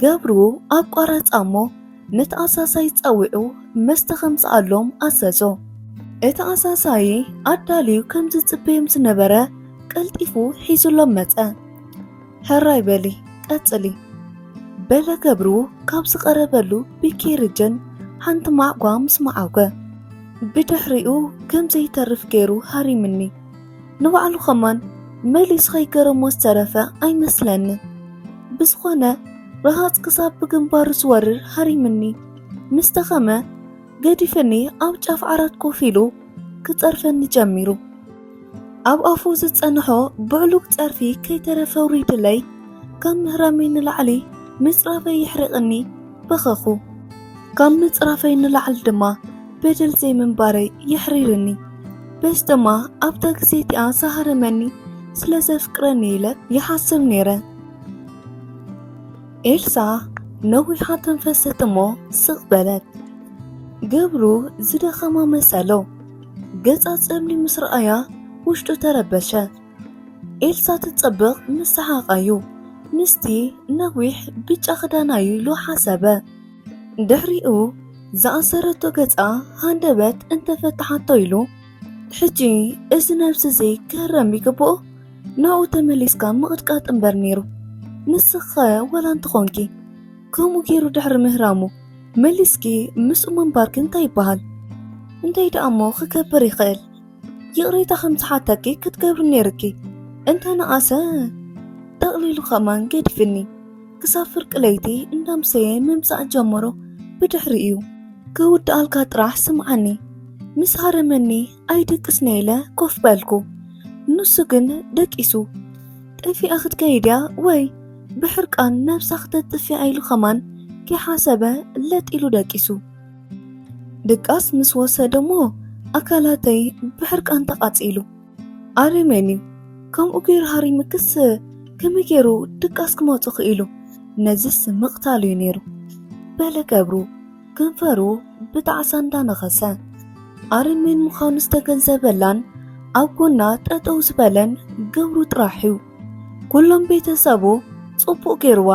ገብሩ ኣቋረጻ እሞ ነቲ ኣሳሳይ ጸዊዑ መስተ ከምጽኣሎም ኣዘዞ። እቲ ኣሳሳይ ኣዳልዩ ከም ዝጽበዮም ዝነበረ ቀልጢፉ ሒዙሎም መጸ። ሕራይ በሊ ቀጽሊ በለ ገብሩ ካብ ዝቐረበሉ ብኬርጅን ሓንቲ ማዕጓ ምስ መዓጐ ብድሕሪኡ ከም ዘይተርፍ ገይሩ ሃሪምኒ ንባዕሉ ከማን መሊሱ ከይገረሞ ዝተረፈ ኣይመስለንን። ብዝኾነ ረሃፅ ክሳብ ብግንባሩ ዝወርር ሃሪምኒ ምስ ተኸመ ገዲፍኒ ኣብ ጫፍ ዓራት ኮፍ ኢሉ ክፀርፈኒ ጀሚሩ። ኣብ ኣፉ ዝፀንሖ ብዕሉግ ፀርፊ ከይተረፈ ውሪድለይ ካብ ምህራመይ ንላዕሊ ምፅራፈይ የሕርቕኒ በኸኹ። ካብ ምፅራፈይ ንላዕሊ ድማ በደል ዘይምንባረይ የሕሪርኒ በስ ድማ ኣብታ ግዜ እቲኣ ዝሃረመኒ ስለ ዘፍቅረኒ ኢለ ይሓስብ ነይረ። ኤልሳ ነዊሓ ተንፈሰት እሞ ስቕ በለት። ገብሩ ዝደኸማ መሰሎ ገጻ ጸሊ ምስ ረኣያ ውሽጡ ተረበሸ። ኤልሳ ትጸብቕ ምስ ሰሓቓዩ ምስቲ ነዊሕ ብጫ ክዳናዩ ኢሉ ሓሰበ። ድሕሪኡ ዝኣሰረቶ ገጻ ሃንደበት እንተፈትሓቶ ኢሉ ሕጂ እዚ ነብሲ እዚ ክህረም ይግብኦ ናብኡ ተመሊስካ ምቕጥቃጥ እምበር ነይሩ ንስኸ ወላ እንተኾንኪ ከምኡ ገይሩ ድሕሪ ምህራሙ መሊስኪ ምስኡ ምንባርኪ እንታይ ይበሃል እንታይ ደኣ እሞ ክገብር ይኽእል ይቕሬታ ከም ዝሓተኪ ክትገብሪ ነይርኪ እንተ ነኣሰ ጠቕሊሉ ከማን ገዲፍኒ ክሳብ ፍርቂ ለይቲ እንዳምሰየ ምምጻእ ጀመሮ ብድሕሪ እዩ ክውድኣልካ ጥራሕ ስምዓኒ ምስ ሃረመኒ ኣይድቅስነ ኢለ ኮፍ በልኩ ንሱ ግን ደቂሱ ጠፊኣ ክትከይድ እያ ወይ ብሕርቃን ነብሳ ክተጥፍያ ኢሉ ከማን ከይሓሰበ ለጥ ኢሉ ደቂሱ ድቃስ ምስ ወሰደ እሞ ኣካላተይ ብሕርቃን ተቓጺሉ ኣረሜን እዩ ከምኡ ገይሩ ሃሪምክስ ከመይ ገይሩ ድቃስ ክመጹ ክኢሉ ነዝስ ምቕታል እዩ ነይሩ በለ ገብሩ ከንፈሩ ብጣዕሳ እንዳነኸሰ ኣረሜን ምዃኑ ዝተገንዘበላን ኣብ ጎና ጠጠው ዝበለን ገብሩ ጥራሕ እዩ ኩሎም ቤተሰቡ ጽቡቕ ገይርዋ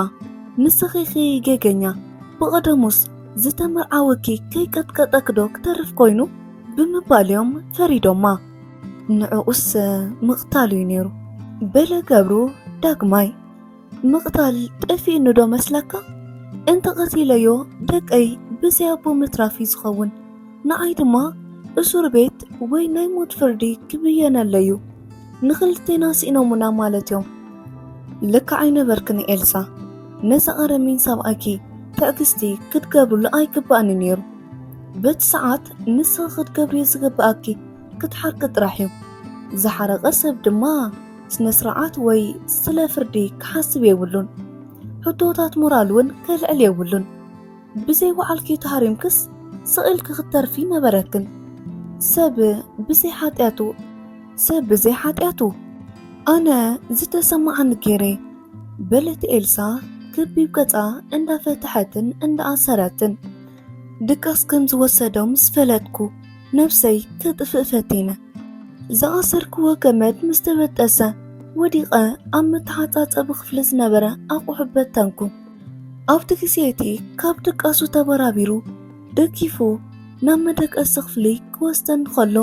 ንስኺኺ ጌገኛ ብቐደሙስ ዝተመርዓወኪ ከይቀጥቀጠክዶ ክተርፍ ኮይኑ ብምባል እዮም ፈሪዶማ ንዕኡስ ምቕታል እዩ ነይሩ በለ ገብሩ ዳግማይ ምቕታል ጠፊእኑዶ መስለካ እንተቐቲለዮ ደቀይ ብዘይ ኣቦ ምትራፍ እዩ ዝኸውን ንዓይ ድማ እሱር ቤት ወይ ናይ ሞት ፍርዲ ክብየነለዩ ንክልቴና ስኢኖሙና ማለት እዮም። ልክዕ ኣይነበርክን ኤልሳ፣ ነዚ ኣረሚን ሰብኣይኪ ትዕግስቲ ክትገብርሉ ኣይግባእን እዩ ነይሩ። በቲ ሰዓት ንስኺ ክትገብርዮ ዝግብኣኪ ክትሓርቂ ጥራሕ እዩ። ዝሓረቐ ሰብ ድማ ስነ ስርዓት ወይ ስለ ፍርዲ ክሓስብ የብሉን። ሕቶታት ሞራል እውን ከልዕል የብሉን። ብዘይ ባዕልኪ ተሃሪምክስ ስቅ ኢልኪ ክትተርፊ ነበረክን ሰብ ብዘይ ሓጢኣቱ ሰብ ብዘይ ሓጢኣቱ ኣነ ዝተሰማዓኒ ገይረ በለት ኤልሳ ክቢብ ገጻ እንዳፈትሐትን እንዳኣሰረትን ድቃስ ከም ዝወሰዶ ምስ ፈለጥኩ ነብሰይ ከጥፍእ ፈቲነ ዝኣሰርክዎ ገመድ ምስ ተበጠሰ ወዲቐ ኣብ መተሓጻጸቢ ክፍሊ ዝነበረ ኣቑሑ በተንኩ። ኣብቲ ግዜ እቲ ካብ ድቃሱ ተበራቢሩ ደጊፉ ናብ መደቀሲ ክፍሊ ክወስደኒ ከሎ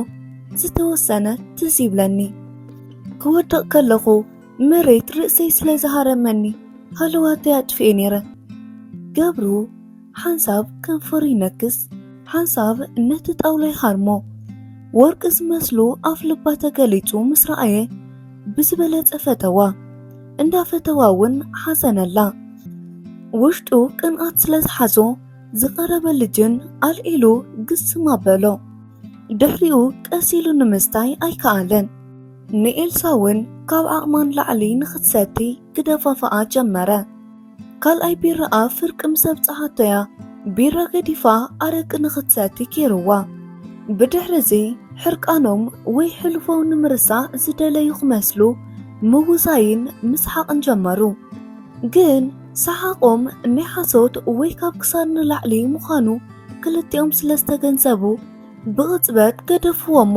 ዝተወሰነ ትዝ ይብለኒ ክወድቕ ከለኹ መሬት ርእሰይ ስለ ዝሃረመኒ ሃለዋተይ ኣጥፍኤ ነይረ ገብሩ ሓንሳብ ከንፈሩ ይነክስ ሓንሳብ ነቲ ጣውላ ይሃርሞ ወርቂ ዝመስሉ ኣፍ ልባ ተገሊጹ ምስ ረኣየ ብዝበለጸ ፈተዋ እንዳፈተዋ እውን ሓዘነላ። ውሽጡ ቅንኣት ስለ ዝሓዞ ዝቐረበ ልጅን ኣልዒሉ ግስም ኣበሎ። ድሕሪኡ ቀስ ኢሉ ንምስታይ ኣይከኣለን። ንኤልሳ እውን ካብ ዓቕማ ንላዕሊ ንኽትሰቲ ክደፋፍኣ ጀመረ። ካልኣይ ቢራኣ ፍርቂ ምስ ኣብጽሓቶ'ያ ቢራ ገዲፋ ኣረቂ ንኽትሰቲ ጌርዋ። ብድሕሪ'ዚ ሕርቃኖም ወይ ሕልፎም ንምርሳዕ ዝደለዩ ክመስሉ ምውዛይን ምስሓቕን ጀመሩ። ግን ሰሓቖም ናይ ሓሶት ወይ ካብ ክሳድ ንላዕሊ ምዃኑ ክልቲኦም ስለ ዝተገንዘቡ ብቕጽበት ገደፍዎ'ሞ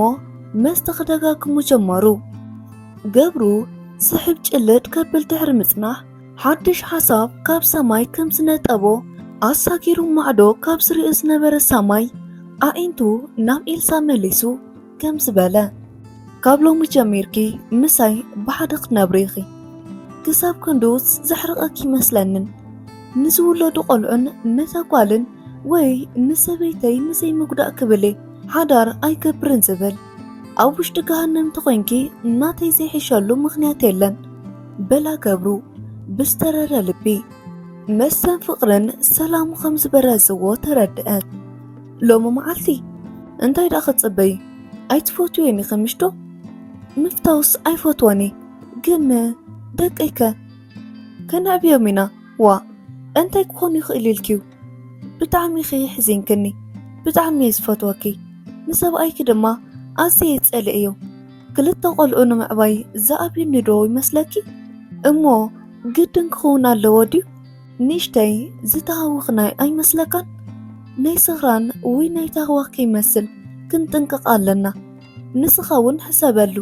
መስተ ክደጋግሙ ጀመሩ። ገብሩ ስሕብ ጭልጥ ከብል ድሕሪ ምጽናሕ ሓድሽ ሓሳብ ካብ ሰማይ ከም ዝነጠቦ ኣሳጊሩ ማዕዶ ካብ ዝርኢ ዝነበረ ሰማይ ኣዒንቱ ናብ ኤልሳ መሊሱ ከም ዝበለ ካብ ሎሚ ጀሚርኪ ምሳይ ብሓደ ክትነብሪ ኢኺ ክሳብ ክንዱ ዘሕርቐኪ ይመስለንን ንዝውለዱ ቆልዑን ነታ ጓልን ወይ ንሰበይተይ ንዘይምጉዳእ ክብል ሓዳር ኣይገብርን ዝብል ኣብ ውሽጢ ገሃነም ተኾይንኪ እናተይ ዘይሕሸሉ ምኽንያት የለን በላ ገብሩ ብዝተረረ ልቢ መሰን ፍቕርን ሰላሙ ከም ዝበረዝዎ ተረድአት ሎሚ መዓልቲ እንታይ ደኣ ክትፅበይ ኣይትፈትዩን ኢኺ ምሽዶ ምፍታውስ ኣይፈትወን እየ ግን ደቀይከ ከነዕብዮም ኢና ዋ እንታይ ክኾኑ ይኽእል ኢልኪዩ ብጣዕሚ ኢኺ ሕዚንክኒ ብጣዕሚ እየ ዝፈትወኪ ንሰብኣይኪ ድማ ኣዝየ ይጸልእዮ ክልተ ቆልዑ ንምዕባይ ዝኣብዩኒ ዶ ይመስለኪ እሞ ግድን ክኸውን ኣለዎ ድዩ ንእሽተይ ዝተሃወኽናይ ኣይመስለካን ናይ ስኽራን ወይ ናይ ታህዋኽ ከይመስል ክንጥንቅቕ ኣለና ንስኻ እውን ሕሰበሉ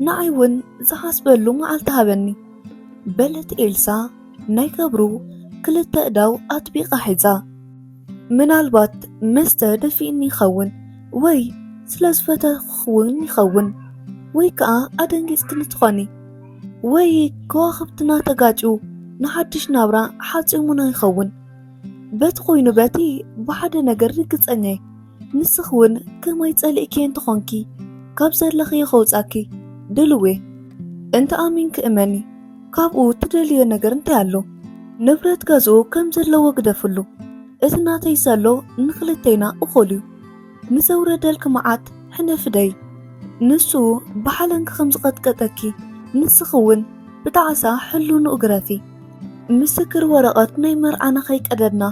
ንዓይ እውን ዝሓስበሉ መዓልቲ ሃበኒ በለት ኤልሳ ናይ ገብሩ ክልተ እዳው ኣጥቢቓ ሒዛ፣ ምናልባት መስተ ደፊኡኒ ይኸውን፣ ወይ ስለ ዝፈተኹ'ውን ይኸውን፣ ወይ ከኣ ኣደንጊጽክኒ ትኾኒ፣ ወይ ከዋኽብትና ተጋጭዩ ንሓድሽ ናብራ ሓጺሙና ይኸውን፣ በቲ ኮይኑ በቲ ብሓደ ነገር ርግጸኛ'የ። ንስኺ ውን ከማይ ጸሊእክዬ እንተኾንኪ ካብ ዘለኽዮ ከውጻኪ ድልውዬ እንተ ኣሚንኪ እመኒ ካብኡ ትደልዮ ነገር እንታይ ኣሎ ንብረት ገዝኡ ከም ዘለዎ ግደፍሉ እቲ ናተይ ዘሎ ንኽልቴና እኹል እዩ ንዘውረደልኪ መዓት ሕነፊ ደይ ንሱ ብሓለንጊ ከም ዝቐጥቀጠኪ ንስኺ ውን ብጣዕሳ ሕሉንኡ ግረፊ ምስክር ወረቐት ናይ መርዓና ከይቀደድና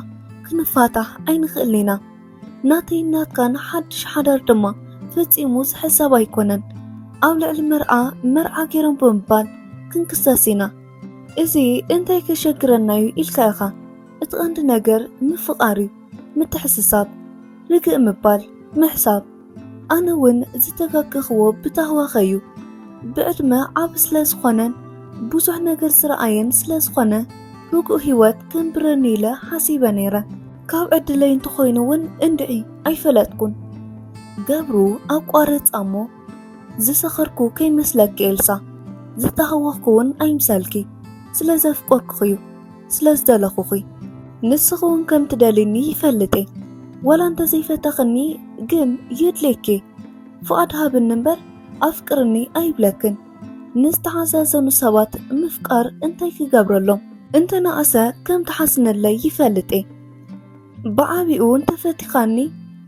ክንፋታሕ ኣይንኽእልን ኢና። ናተይን ናትካን ሓድሽ ሓዳር ድማ ፈጺሙ ዝሕሰብ ኣይኮነን። ኣብ ልዕሊ መርዓ መርዓ ገይሮም ብምባል ክንክሰስ ኢና። እዚ እንታይ ከሸግረና እዩ ኢልካ ኢኻ። እቲ ቀንዲ ነገር ምፍቓር እዩ፣ ምትሕስሳብ፣ ርግእ ምባል፣ ምሕሳብ ኣነ እውን ዝተፈከኽዎ ብታህዋኸ እዩ። ብዕድመ ዓብ ስለ ዝኾነን ብዙሕ ነገር ዝረኣየን ስለ ዝኾነ ርጉእ ህይወት ክንብረኒ ኢለ ሓሲበ ነይረ። ካብ ዕድለይ እንተኾይኑ እውን እንድዒ ኣይፈለጥኩን። ገብሩ ኣቋረጻ እሞ ዝሰኸርኩ ከይመስለኪ ኤልሳ፣ ዝተሃወኽኩ እውን ኣይምሰልኪ ስለ ዘፍቆርኩኽ እዩ። ስለ ዝደለኹኺ ንስኺ እውን ከም ትደልይኒ ይፈልጥ እየ ወላ እንተዘይፈተኽኒ ግን የድልየኪ ፍቓድ ሃብኒ እምበር ኣፍቅርኒ ኣይብለክን ንዝተሓዛዘኑ ሰባት ምፍቃር እንታይ ክገብረሎም እንተነኣሰ ከም ትሓስነለይ ይፈልጥ እየ ብዓብኡ እንተፈቲኻኒ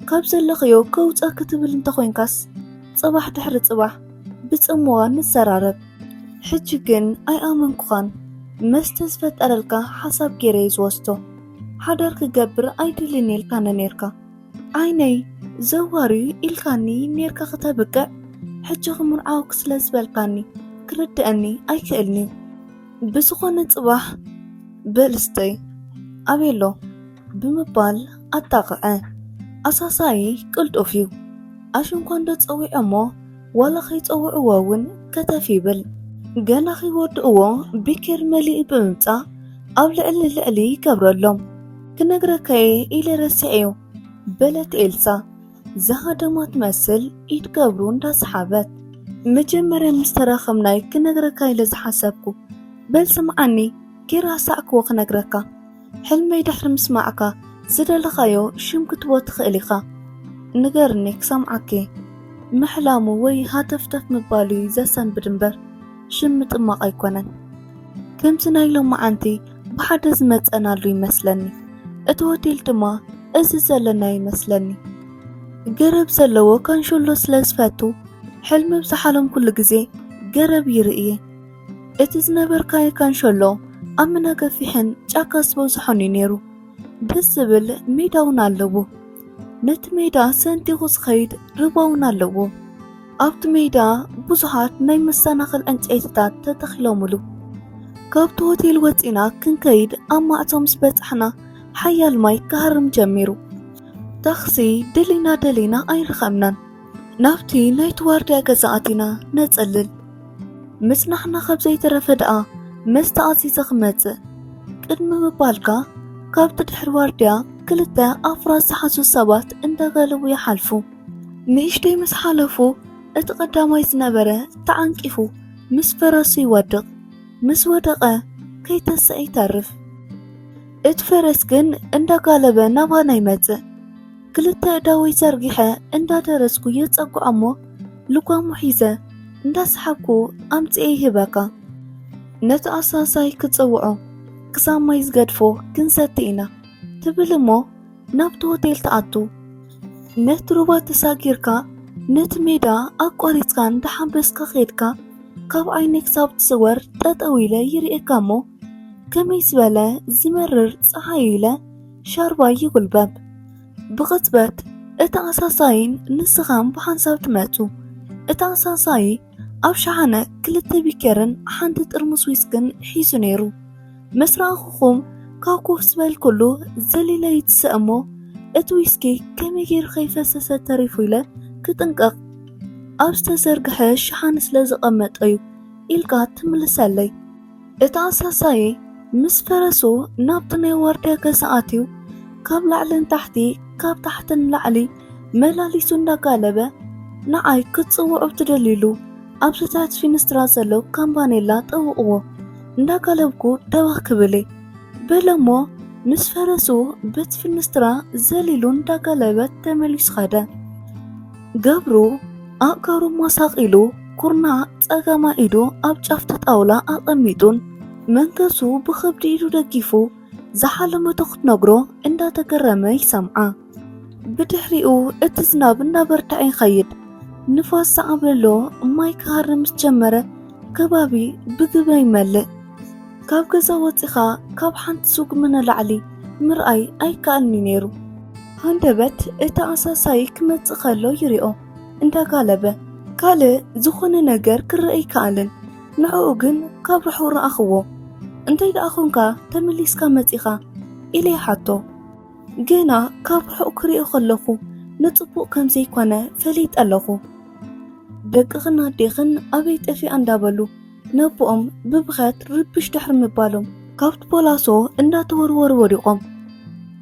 ካብ ዘለኽዮ ከውፃ ክትብል እንተኾይንካስ ፅባሕ ድሕሪ ፅባሕ ብፅምዋ ንዘራረብ ሕጂ ግን ኣይኣመንኩኻን መስተ ዝፈጠረልካ ሓሳብ ገይረ እዩ ዝወስዶ ሓዳር ክገብር ኣይደልን ኢልካ ነኔርካ ዓይነይ ዘዋሪ ኢልካኒ ኔርካ ክተብቅዕ ሕጂ ክምርዓውክ ስለ ዝበልካኒ ክርድአኒ ኣይክእልን እዩ ብዝኾነ ጽባሕ በልስተይ ኣቤሎ ብምባል ኣጣቕዐ ኣሳሳይ ቅልጡፍ እዩ ኣሽንኳንዶ ጸዊዖሞ ዋላ ከይጸውዕዎ እውን ከተፍ ይብል። ገና ከይወድእዎ ቢኬር መሊኡ ብምምጻእ ኣብ ልዕሊ ልዕሊ ይገብረሎም። ክነግረካ እየ ኢለ ረሲዐዮ በለት ኤልሳ ዝሃደማ ትመስል ኢድ ገብሩ እንዳሰሓበት። መጀመርያ ምስ ተራኸብናይ ክነግረካ ኢለ ዝሓሰብኩ በል ስምዓኒ ጌራ ኣሳዕክዎ ክነግረካ። ሕልመይ ድሕሪ ምስማዕካ ዝደለኻዮ ሽም ክትቦ ትኽእል ኢኻ ንገርኒ ክሰምዓኪ ምሕላሙ ወይ ሃተፍተፍ ምባሉ እዩ ዘሰንብድ እምበር ሽም ምጥማቕ ኣይኮነን ከምዚ ናይ ሎማዓንቲ ብሓደ ዝመፀናሉ ይመስለኒ እቲ ሆቴል ድማ እዚ ዘለና ይመስለኒ ገረብ ዘለዎ ካንሾሎ ስለ ዝፈቱ ሕልሚ ብዝሓለምኩሉ ግዜ ገረብ ይርእየ እቲ ዝነበርካዮ ካንሸሎ ኣምና ገፊሕን ጫካ ዝበዝሖን እዩ ነይሩ ደስ ዝብል ሜዳ እውን ኣለዎ ነቲ ሜዳ ሰንቲኹ ዝኸይድ ርባ እውን ኣለዎ ኣብቲ ሜዳ ብዙሓት ናይ መሰናኽል ዕንጨይትታት ተተኺሎምሉ ካብቲ ሆቴል ወፂና ክንከይድ ኣብ ማዕፆ ምስ በፃሕና ሓያል ማይ ክሃርም ጀሚሩ ታክሲ ደሊና ደሊና ኣይረኸብናን ናብቲ ናይቲ ዋርድያ ገዛ ኣቲና ነጸልል ምጽናሕና ኸብ ዘይተረፈ ደኣ መስተ ኣዚዘ ክመጽእ ቅድሚ ምባልካ ካብቲ ድሕሪ ዋርድያ ክልተ ኣፍራስ ዝሓዙ ሰባት እንዳጋለቡ ይሓልፉ። ንእሽተይ ምስ ሓለፉ እቲ ቀዳማይ ዝነበረ ተዓንቂፉ ምስ ፈረሱ ይወድቕ። ምስ ወደቐ ከይተሰአ ይተርፍ። እቲ ፈረስ ግን እንዳጋለበ ናባና ይመጽእ። ክልተ እዳወይ ዘርጊሐ እንዳደረስኩ የጸጉዓሞ ልጓሙ ሒዘ እንዳሰሓብኩ ኣምጽኤ ይህበካ ነቲ ኣሳሳይ ክጽውዖ ክሳብ ማይ ዝገድፎ ክንሰቲ ኢና ትብል እሞ ናብቲ ሆቴል ትኣቱ ነቲ ሩባ ተሳጊርካ ነቲ ሜዳ ኣቋሪጽካ እንዳሓንበስካ ኼድካ ካብ ዓይነይ ክሳብ ትስወር ጠጠው ኢለ ይርእየካ እሞ ከመይ ዝበለ ዝመርር ፀሓይ ኢለ ሻርባ ይጉልበብ። ብቕጽበት እቲ ኣሳሳይን ንስኻን ብሓንሳብ ትመጹ። እቲ ኣሳሳዪ ኣብ ሸሓነ ክልተ ቢኬርን ሓንቲ ጥርሙስ ዊስክን ሒዙ ነይሩ። ምስ ረኣኹኹም ካብ ኮፍ ዝበልኩሉ ዘሊለ ይትሰ እሞ እቲ ዊስኪ ከመይ ገይሩ ከይፈሰሰ ተሪፉ ኢለ ክጥንቀቕ ኣብ ዝተዘርግሐ ሸሓነ ስለ ዝቐመጠ እዩ ኢልካ ትምልሰለይ። እቲ ኣሳሳዪ ምስ ፈረሱ ናብቲ ናይ ዋርድያ ገዛ ኣትዩ ካብ ላዕሊ ንታሕቲ ካብ ታሕቲ ንላዕሊ መላሊሱ እንዳጋለበ ንዓይ ክትጽውዑ ትደልዩሉ ኣብዚ ትሕቲ ፊንስትራ ዘሎ ካምባኔላ ጠውቕዎ እንዳጋለብኩ ደበኽ ክብል በለሞ ምስ ፈረሱ በቲ ፊንስትራ ዘሊሉ እንዳጋለበት ተመሊሱ ኸደ። ገብሩ ኣእጋሩ ማሳቂሉ ኩርናዕ ጸጋማይ ኢዱ ኣብ ጫፍቲ ጣውላ ኣቐሚጡን መንገሱ ብኸብዲ ኢዱ ደጊፉ ዝሓለመቶ ክትነግሮ እንዳተገረመ ይሰምዓ። ብድሕሪኡ እቲ ዝናብ እንዳበርትዐ ይኸይድ። ንፋስ ዝዓብለሎ ማይ ክሃርም ምስ ጀመረ ከባቢ ብግበ ይመልእ። ካብ ገዛ ወጺኻ ካብ ሓንቲ ስጉሚ ንላዕሊ ምርኣይ ኣይከኣልን'ዩ ነይሩ። ሃንደበት እቲ ኣሳሳዪ ክመጽእ ከሎ ይሪኦ እንዳጋለበ ካልእ ዝኾነ ነገር ክረእ ኣይከኣልን ንዕኡ ግን ካብ ርሑቕ ረኣኽዎ እንታይ ደኣ ኾንካ ተመሊስካ መጺኻ ኢለ ይሓቶ ገና ካብ ርሑቕ ክሪኦ ከለኹ ንጽቡቕ ከም ዘይኮነ ፈሊጠ ኣለኹ ደቅኽን ኣዴኽን ኣበይ ጠፊኣ እንዳበሉ ነቦኦም ብብኸት ርብሽ ድሕሪ ምባሎም ካብቲ ፖላሶ እንዳተወርወሩ ወዲቖም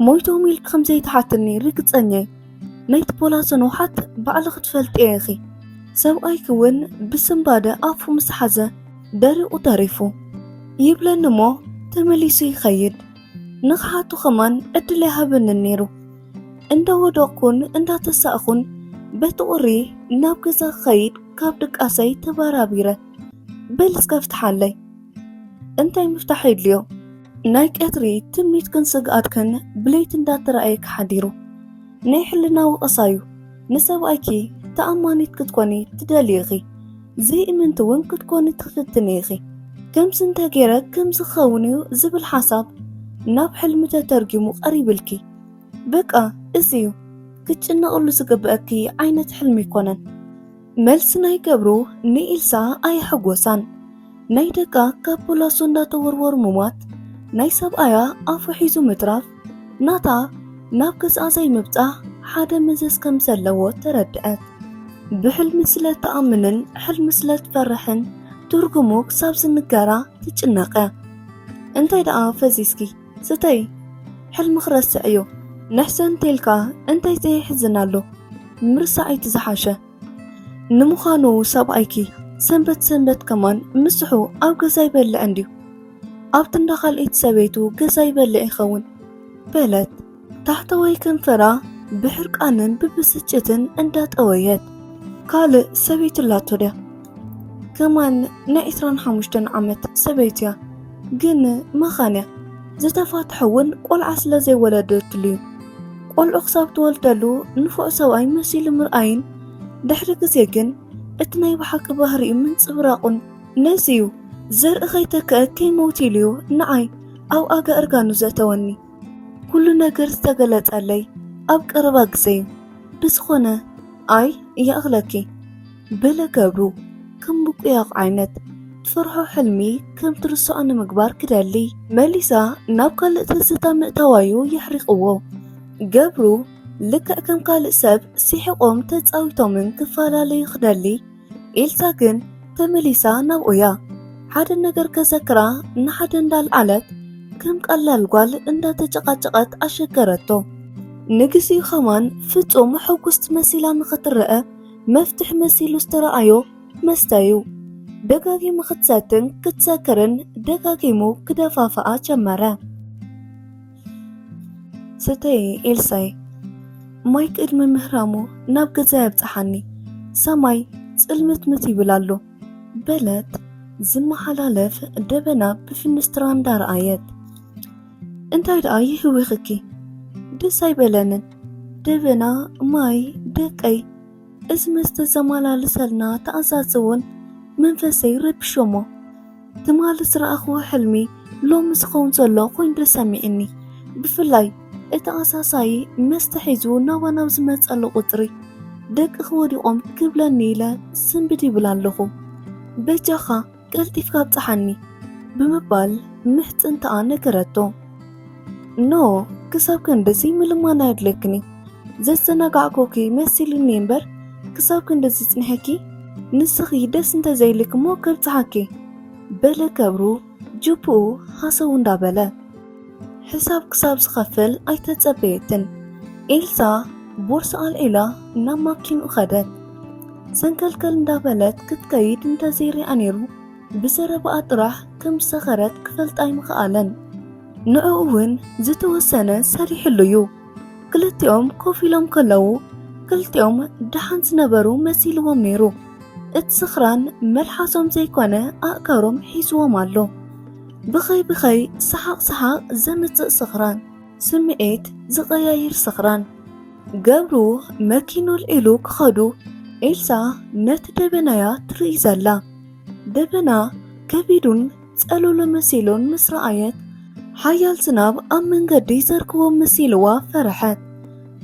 ሞይቶም ኢልኪ ከም ዘይትሓትኒ ርግጸኛ እየ ናይቲ ፖላሶ ንውሓት ባዕሊ ክትፈልጢ ኢኺ ሰብኣይኪ እውን ብስምባደ ኣፉ ምስ ሓዘ ደሪቑ ተሪፉ ይብለኒ እሞ ተመሊሱ ይኸይድ ንኽሓቱ ኸማን ዕድል ኣይሃበንን ነይሩ። እንዳ ወደቕኩን እንዳ ተሳእኹን በቲ ቁሪ ናብ ገዛ ክኸይድ ካብ ድቃሰይ ተባራቢረ በል እስከ ፍትሓለይ እንታይ ምፍታሕ የድልዮ ናይ ቀትሪ ትምኒትክን ስግኣትክን ብለይቲ እንዳተረኣየ ክሓዲሩ ናይ ሕልና ወቐሳዩ ንሰብኣይኪ ተኣማኒት ክትኮኒ ትደልዪ ኢኺ ዘይእምንቲ እውን ክትኮኒ ትፍትኒ ኢኺ። ከምዚ እንተ ገይረ ከምዚ ክኸውን እዩ ዝብል ሓሳብ ናብ ሕልሚ ተተርጊሙ ቀሪብልኪ። በቃ እዚ እዩ ክትጭነቕሉ ዝግበኣኪ ዓይነት ሕልሚ ኣይኮነን። መልሲ ናይ ገብሩ ንኢልሳ ኣየሐጎሳን። ናይ ደቃ ካብ ፖላሶ እንዳተወርወሩ ምሟት፣ ናይ ሰብኣያ ኣፉ ሒዙ ምትራፍ፣ ናታ ናብ ገዝኣ ዘይምብጻሕ ሓደ መዘዝ ከም ዘለዎ ተረድአት። ብሕልሚ ስለ ትኣምንን ሕልሚ ስለ ትፈርሕን ትርጉሙ ክሳብ ዝንገራ ትጭነቐ። እንታይ ደኣ ፈዚዝኪ ስተይ ሕልሚ ክረስዕ እዩ ንሕሰን እንተልካ እንታይ ዘየሕዝን ኣሎ ምርሳዕ እቲ ዝሓሸ ንምዃኑ ሰብኣይኪ ሰንበት ሰንበት ከማን ምስሑ ኣብ ገዛ ይበልዕ እንድዩ ኣብቲ እንዳ ካልኤት ሰበይቱ ገዛ ይበልዕ ይኸውን በለት ታሕተዋይ ከንፈራ ብሕርቃንን ብብስጭትን እንዳጠወየት ካልእ ሰበይቱ ኣላቶ ድያ ከማን ናይ ዕስራን ሓሙሽተን ዓመት ሰበይቲ እያ ግን መኻን እያ ዝተፋትሐ እውን ቆልዓ ስለ ዘይወለደትሉ እዩ ቆልዑ ክሳብ ትወልደሉ ንፉዕ ሰብኣይ መሲሉ ምርኣይን ድሕሪ ግዜ ግን እቲ ናይ ብሓቂ ባህሪኡ ምንፅብራቑን ነዚ እዩ ዘርኢ ከይተክአ ከይመውት ኢሉ እዩ ንዓይ ኣብ ኣጋ እርጋኑ ዘእተወኒ ኩሉ ነገር ዝተገለፀለይ ኣብ ቀረባ ግዜ እዩ ብዝኾነ ኣይ ይኣኽለኪ በለ ገብሩ ከም ምቁያቕ ዓይነት ትሰርሖ ሕልሚ ከም ትርስዖ ንምግባር ክደሊ። መሊሳ ናብ ካልእ ትዝታ ምእታዋ'ዩ የሕሪቕዎ። ገብሩ ልክዕ ከም ካልእ ሰብ ስሒቖም ተጻዊቶምን ክፈላለዩ ክደሊ፣ ኤልሳ ግን ተመሊሳ ናብኡ'ያ። ሓደ ነገር ከዘክራ ንሓደ እንዳልዓለት ከም ቀላል ጓል እንዳተጨቓጨቐት ኣሸገረቶ። ንግዚኡ ከማን ፍጹም ሕጉስቲ መሲላ ንኽትረኣ መፍትሕ መሲሉ ዝተረኣዮ መስተ እዩ። ደጋጊሙ ክትሰትን ክትሰክርን ደጋጊሙ ክደፋፍኣ ጀመረ። ስተይ ኤልሳይ ማይ ቅድሚ ምህራሙ ናብ ገዛ ያብጽሓኒ ሰማይ ጽልምትምት ይብል ኣሎ በለት ዝመሓላለፍ ደበና ብፍንስትራ እንዳረኣየት እንታይ ደኣ ይህዊኽኪ ደስ ኣይበለንን ደበና ማይ ደቀይ እዚ መስተ ዘመላልሰልና ተኣዛዝ እውን መንፈሰይ ረብሾሞ ትማሊ ዝረኣኽዎ ሕልሚ ሎሚ ዝኸውን ዘሎ ኮይኑ ተሰሚዕኒ ብፍላይ እቲ ኣሳሳይ መስተ ሒዙ ናባ ናብ ዝመፀሉ ቁፅሪ ደቅኺ ወዲቖም ክብለኒ ኢለ ስንብድ ይብል ኣለኹ በጃኻ ቀልጢፍካ ኣብጽሓኒ ብምባል ምሕጽንታኣ ነገረቶ። ኖ ክሳብ ክንድዚ ምልማን ኣየድለክኒ ዘዘናጋዕኩኪ መሲልኒ እምበር ክሳብ ክንድዚ ጽኒሐኪ ንስኺ ደስ እንተዘይልክሞ ከብጽሓኪ በለ ከብሩ ጅብኡ ሃሰው እንዳበለ ሕሳብ ክሳብ ዝኸፍል ኣይተጸበየትን። ኤልሳ ቦርሳ ኣልዒላ ናብ ማኪንኡ ኸደት። ሰንከልከል እንዳበለት ክትከይድ እንተዘይርያ ነይሩ ብዘረባኣ ጥራሕ ከም ዝሰኸረት ክፈልጥ ኣይምኸኣለን። ንዕኡ እውን ዝተወሰነ ሰሪሕሉ እዩ። ክልቲኦም ኮፍ ኢሎም ከለዉ ክልቲኦም ደሓን ዝነበሩ መሲልዎም ነይሩ። እቲ ስኽራን መልሓሶም ዘይኮነ ኣእጋሮም ሒዝዎም ኣሎ። ብኸይ ብኸይ ሰሓቕ ሰሓቕ ዘምጽእ ስኽራን፣ ስምዒት ዝቐያይር ስኽራን። ገብሩ መኪኖል ኢሉ ክኸዱ ኤልሳ ነቲ ደበና'ያ ትርኢ ዘላ። ደበና ከቢዱን ጸሎሎ መሲሉን ምስ ረኣየት፣ ሓያል ዝናብ ኣብ መንገዲ ይዘርግዎም መሲልዋ ፈረሐት።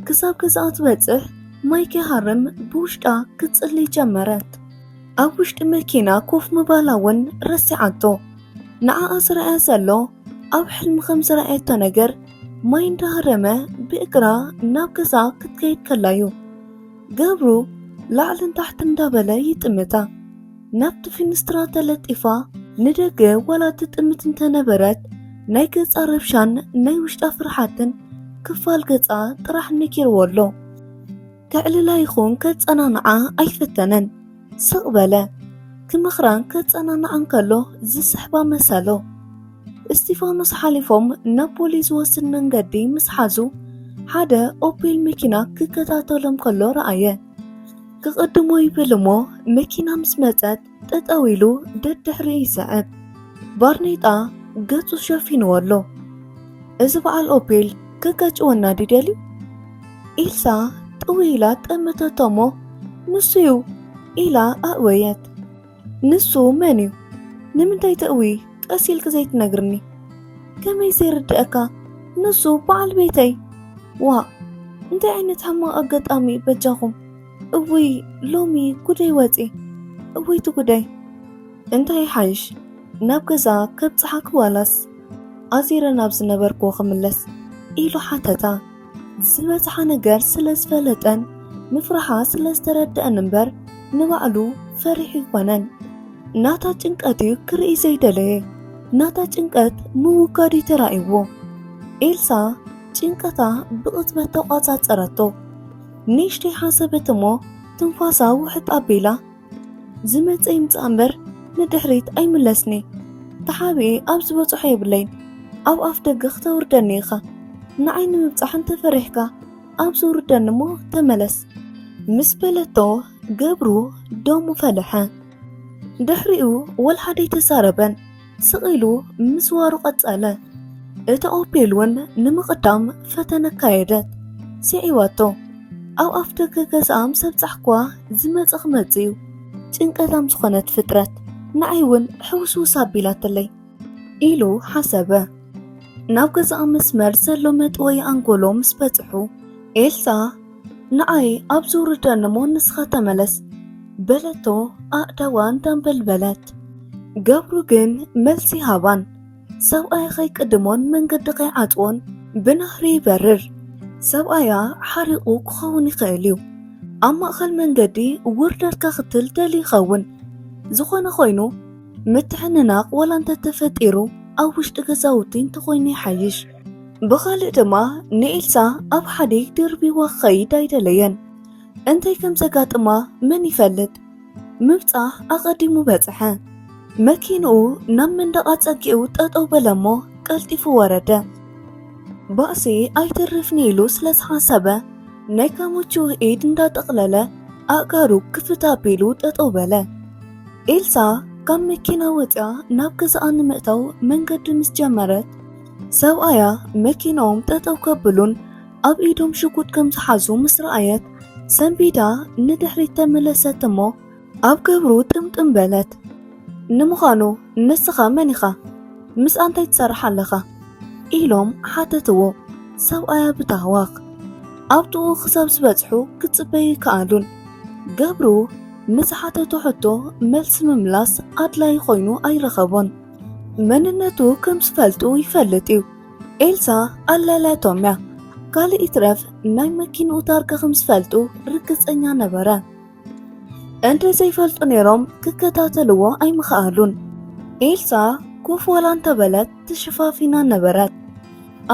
ክሳብ ገዛኣ ትበጽሕ ማይ ከይሃርም ብውሽጣ ክትጽሊ ጀመረት። ኣብ ውሽጢ መኪና ኮፍ ምባላ እውን ረሲዓቶ። ንዓኣ ዝረኣያ ዘሎ ኣብ ሕልሚ ከም ዝረኣየቶ ነገር ማይ እንዳሃረመ ብእግራ ናብ ገዛ ክትከይድ ከላ እዩ። ገብሩ ላዕልን ታሕቲ እንዳበለ ይጥምታ። ናብቲ ፊንስትራ ተለጢፋ ንደገ ዋላ ትጥምት እንተነበረት ናይ ገጻ ረብሻን ናይ ውሽጣ ፍርሓትን ክፋል ገጻ ጥራሕ ነኪርዎ ኣሎ። ከዕልላ ይኹን ከጸናንዓ ኣይፈተነን። ስቕ በለ። ክመኽራን ከጸናንዓን ከሎ ዝስሕባ መሰሎ። እስጢፋኖስ ሓሊፎም ናብ ቦሌ ዝወስድ መንገዲ ምስ ሓዙ ሓደ ኦፔል መኪና ክከታተሎም ከሎ ረኣየ። ክቕድሞ ይብል እሞ መኪና ምስ መጸት ጠጠው ኢሉ ደድሕሪኡ ይስዕብ። ባርኔጣ ገጹ ሸፊንዎ ኣሎ። እዚ በዓል ኦፔል ከጋጭወና ድዩ ደልዩ? ኢልሳ ጥውይ ኢላ ጠመተቶ እሞ ንሱ'ዩ ኢላ ኣእወየት። ንሱ መን'ዩ? ንምንታይ ተእውዪ ቀስ ኢልኪ ዘይትነግርኒ? ከመይ ዘይርድኣካ ንሱ በዓል ቤተይ። ዋእ እንታይ ዓይነት ሕማቕ ኣጋጣሚ'ዩ በጃኹም። እውይ ሎሚ ጉደይ ወፂ እውይ ትጉደይ እንታይ ይሓይሽ ናብ ገዛ ከብፅሓኪ ዋላስ ኣዚረ ናብ ዝነበርክዎ ክምለስ ኢሉ ሓተታ ዝበፅሓ ነገር ስለ ዝፈለጠን ምፍራሓ ስለ ዝተረድአን እምበር ንባዕሉ ፈሪሑ ይኮነን ናታ ጭንቀት እዩ ክርኢ ዘይደለየ ናታ ጭንቀት ምውጋድ እዩ ተራእይዎ ኤልሳ ጭንቀታ ብቕጽበት ተቋጻጸረቶ ንእሽተይ ሓሰበት እሞ ትንፋሳ ውሕጥ ኣቢላ ዝመፀ ይምፃእ እምበር ንድሕሪት ኣይምለስኒ ተሓቢኤ ኣብ ዝበፅሖ የብለይን ኣብ ኣፍ ደገ ክተውርደኒ ኢኻ ንዓይ ንምብፃሕ እንተፈሪሕካ ኣብ ዝውርደኒ እሞ ተመለስ ምስ በለቶ ገብሩ ደሙ ፈለሐ ድሕሪኡ ወልሓደይ ተዛረበን ስቕ ኢሉ ምስዋሩ ቀጸለ። እታ ኦፔል እውን ንምቕዳም ፈተነ ኣካየደት። ስዒባቶ። ኣብ ኣፍ ደገ ገዛኣ ምስ ኣብጻሕኩዋ ዝመጸ ክመጽእ እዩ። ጭንቀታም ዝኾነት ፍጥረት ንዓይ እውን ሕውስውስ ኣቢላትለይ ኢሉ ሓሰበ። ናብ ገዛኣ መስመር ዘሎ መጥወይ ኣንጎሎ ምስ በጽሑ ኤልሳ ንኣይ ኣብ ዝውርደኒ እሞ ንስኻ ተመለስ በለቶ ኣእዳዋ እንዳንበልበለት ገብሩ ግን መልሲ ሃባን ሰብኣይ ከይቅድሞን መንገዲ ከይዓፅዎን ብናህሪ ይበርር ሰብኣያ ሓሪቑ ክኸውን ይኽእል እዩ ኣብ ማእኸል መንገዲ ውርደት ከኽትል ደሊ ይኸውን ዝኾነ ኮይኑ ምትሕንናቕ ወላ እንተተፈጢሩ ኣብ ውሽጢ ገዛውቲ እንተኾይኑ ይሓይሽ ብኻልእ ድማ ንኤልሳ ኣብ ሓደ ደርቢዋ ክኸይድ ኣይደለየን። እንታይ ከም ዘጋጥማ መን ይፈልጥ? ምብጻሕ ኣቐዲሙ በጽሐ። መኪንኡ ናብ መንደቕ ኣጸጊዑ ጠጠው በለ እሞ ቀልጢፉ ወረደ። ባእሲ ኣይተርፍኒ ኢሉ ስለ ዝሓሰበ ናይ ካሙቹ ኢድ እንዳጠቕለለ ኣእጋሩ ክፍት ኣቢሉ ጠጠው በለ። ኤልሳ ካብ መኪና ወፂኣ ናብ ገዛኣ ንምእታው መንገዲ ምስ ጀመረት ሰብኣያ መኪናኦም ጠጠው ከብሉን ኣብ ኢዶም ሽጉጥ ከም ዝሓዙ ምስ ረኣየት ሰንቢዳ ንድሕሪት ተመለሰት እሞ ኣብ ገብሩ ጥምጥም በለት። ንምዃኑ ንስኻ መን ኢኻ? ምስ ኣንታይ ትሰርሕ ኣለኻ? ኢሎም ሓተትዎ ሰብኣያ ብታህዋኽ። ኣብ ጥኡ ክሳብ ዝበጽሑ ክጽበዩ ይከኣሉን። ገብሩ ንዝሓተቶ ሕቶ መልሲ ምምላስ ኣድላይ ኮይኑ ኣይረኸቦን። መንነቱ ከም ዝፈልጡ ይፈልጥ እዩ ኤልሳ ኣላላቶም እያ ካልእ ይትረፍ ናይ መኪንኡ ታርጋ ከም ዝፈልጡ ርግፀኛ ነበረ እንተ ዘይፈልጡ ነይሮም ክከታተልዎ ኣይምኸኣሉን ኤልሳ ኮፍ ዋላ እንተበለት ተሸፋፊና ነበረት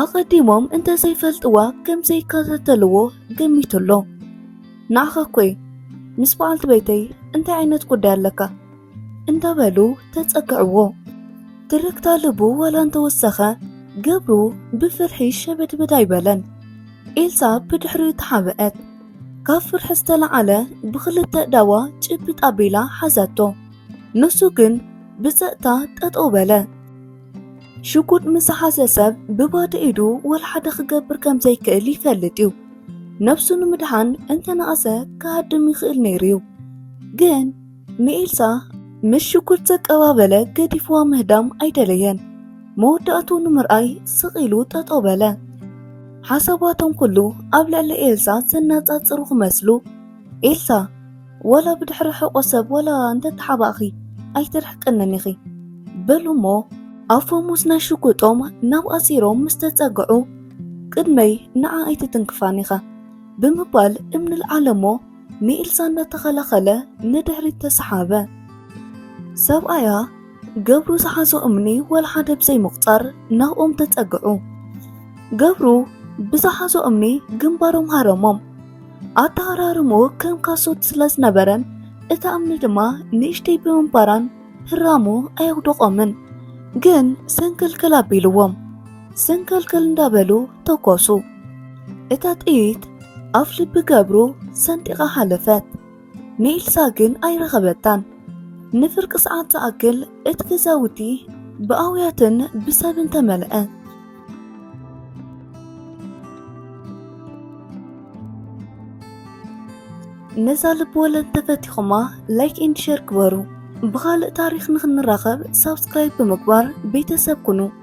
ኣቐዲሞም እንተ ዘይፈልጥዋ ከም ዘይከታተልዎ ገሚቱ ኣሎ ንዓኻ እኮ ምስ በዓልቲ ቤተይ እንታይ ዓይነት ጉዳይ ኣለካ እንዳበሉ ተጸግዕዎ። ትርክታ ልቡ ዋላ እንተወሰኸ ገብሩ ብፍርሒ ሸበድበድ ኣይበለን። ኤልሳ ብድሕሪኡ ተሓበአት። ካብ ፍርሒ ዝተለዓለ ብኽልተ እዳዋ ጭብጥ ኣቢላ ሓዛቶ። ንሱ ግን ብጸጥታ ጠጠው በለ። ሽጉጥ ምስ ሓዘ ሰብ ብባዶ ኢዱ ወልሓደ ክገብር ከም ዘይክእል ይፈልጥ እዩ። ነብሱ ንምድሓን እንተነኣሰ ክሃድም ይኽእል ነይሩ እዩ ግን ንኤልሳ ምስ ሽጉርት ዘቀባበለ ገዲፍዋ ምህዳም ኣይደለየን። መወዳእትኡ ንምርኣይ ስቕ ኢሉ ጠጠው በለ። ሓሳባቶም ኩሉ ኣብ ልዕሊ ኤልሳ ዘነጻጽሩ ክመስሉ ኤልሳ ዋላ ብድሕሪ ሕቆ ሰብ ዋላ እንተተሓባእኺ ኣይትርሕቅንን ኢኺ በሉ እሞ ኣፎሙዝ ናይ ሽጉጦም ናብ ኣሲሮም ምስ ተጸግዑ ቅድመይ ንዓ ኣይትትንክፋን ኢኻ ብምባል እምኒ ልዓለ እሞ ንኤልሳ እናተኸላኸለ ንድሕሪት ተሰሓበ። ሰብኣያ ገብሩ ዝሓዞ እምኒ ወላሓደ ብዘይምቑፃር ናብኦም ተፀግዑ። ገብሩ ብዝሓዞ እምኒ ግንባሮም ሃረሞም። ኣተሃራርምኡ ከም ካሶት ስለዝነበረን እታ እምኒ ድማ ንእሽተይ ብምንባራን ህራሙ ኣየውደቖምን። ግን ሰንከልከል ኣቢልዎም። ሰንከልከል እንዳበሉ ተኮሱ። እታ ጥይት ኣፍ ልቢ ገብሩ ሰንጢቓ ሃለፈት። ንኤልሳ ግን ኣይረኸበታን። ንፍርቂ ሰዓት ዝኣክል እቲ ገዛውቲ ብኣውያትን ብሰብን ተመልአ። ነዛ ልቢ ወለድ ተፈቲኹማ ላይክ ኤንድ ሼር ግበሩ። ብኻልእ ታሪኽ ንክንራኸብ ሳብስክራይብ ብምግባር ቤተሰብ ኩኑ።